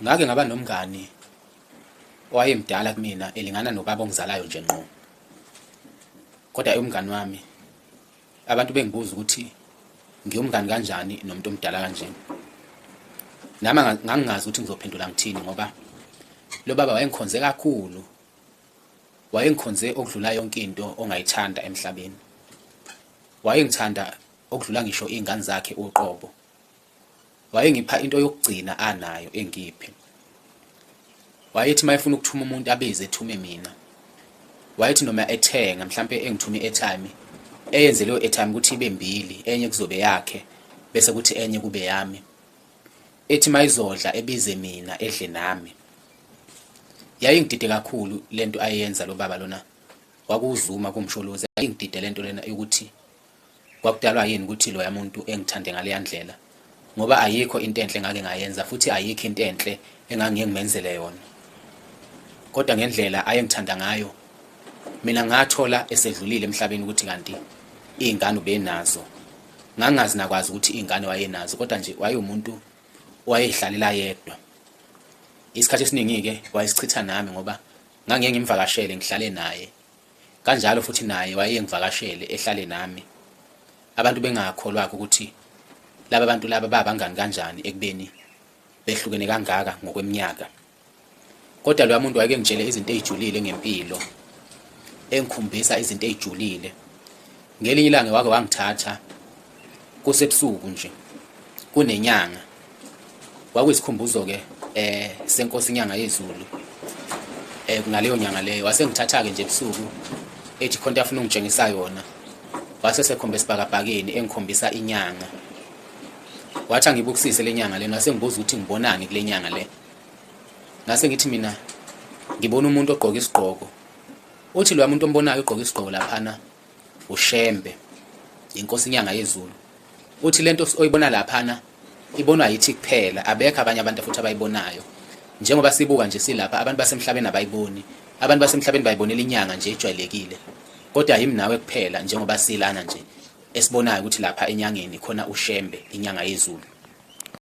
Ngake ngaba nomngani owayemdala kumina elingana nobaba ongizalayo nje ngqo. Kodwa umngani wami abantu bengibuza ukuthi ngiyumngani kanjani nomuntu omdala kanje. Nami ngangingazi ukuthi ngizophendula ngithini ngoba lo baba wayengikhonze kakhulu. Wayengikhonze okudlula yonke into ongayithanda emhlabeni. Wayengithanda okudlula ngisho iy'ngane zakhe uqobo. wayengipha into yokugcina anayo engiphe wayethi uma efuna ukuthuma umuntu abize ethume mina wayethi noma ethenga mhlampe engithume airtime eyenze leyo airtime ukuthi ibe mbili enye kuzobe yakhe bese kuthi enye kube yami ethi mayizodla ebize mina edle nami yayingidide kakhulu lento ayenza lo baba lona wakuzuma kumsholozi yayingidide lento lena ukuthi Kwakudalwa yini ukuthi loya muntu engithande ngaleya ndlela? Ngoba ayikho into enhle ngake ngayenza futhi ayikho into enhle engangiye ngimenzele yona. Kodwa ngendlela ayengithanda ngayo, mina ngathola esedlulile emhlabeni ukuthi kanti iy'ngane ubenazo. Ngangazi nakwazi ukuthi iy'ngane wayenazo kodwa nje wayewumuntu owayehlalela yedwa. Isikhathi esiningi-ke wayesichitha nami ngoba ngangiye ngimvakashele ngihlale naye. Kanjalo futhi naye wayengivakashele ehlale nami. Abantu bengakholwakho ukuthi laba bantu laba babangani kanjani ekubeni behlukene kangaka ngokweminyaka. Kodwa loya muntu wayekengitshele izinto ezijulile ngempilo, engikhumbisa izinto ezijulile. Ngelinye ilanga wake wangithatha kusebusuku nje kunenyanga kwakuyisikhumbuzo ke eh senkosi inyanga yezulu eh kunaleyo nyanga leyo wasengithatha ke nje ebusuku ethi khonto afuna ungitshengisa yona wase sekhombe sibhakabhakeni engikhombisa inyanga wathi angibukisise lenyanga lena wasengibuza ukuthi ngibonani kulenyanga le ngase ngithi mina ngibona umuntu ogqoka isigqoko uthi lo muntu ombonayo ugqoka isigqoko laphana uShembe inkosi inyanga yezulu uthi lento oyibona laphana ibonwa yithi kuphela abekho abanye abantu futhi abayibonayo njengoba sibuka nje silapha abantu basemhlabeni abayiboni abantu basemhlabeni bayibonela inyanga nje ejwayelekile kodwa yimi nawe kuphela njengoba silana nje esibonayo ukuthi lapha enyangeni khona uShembe inyanga yezulu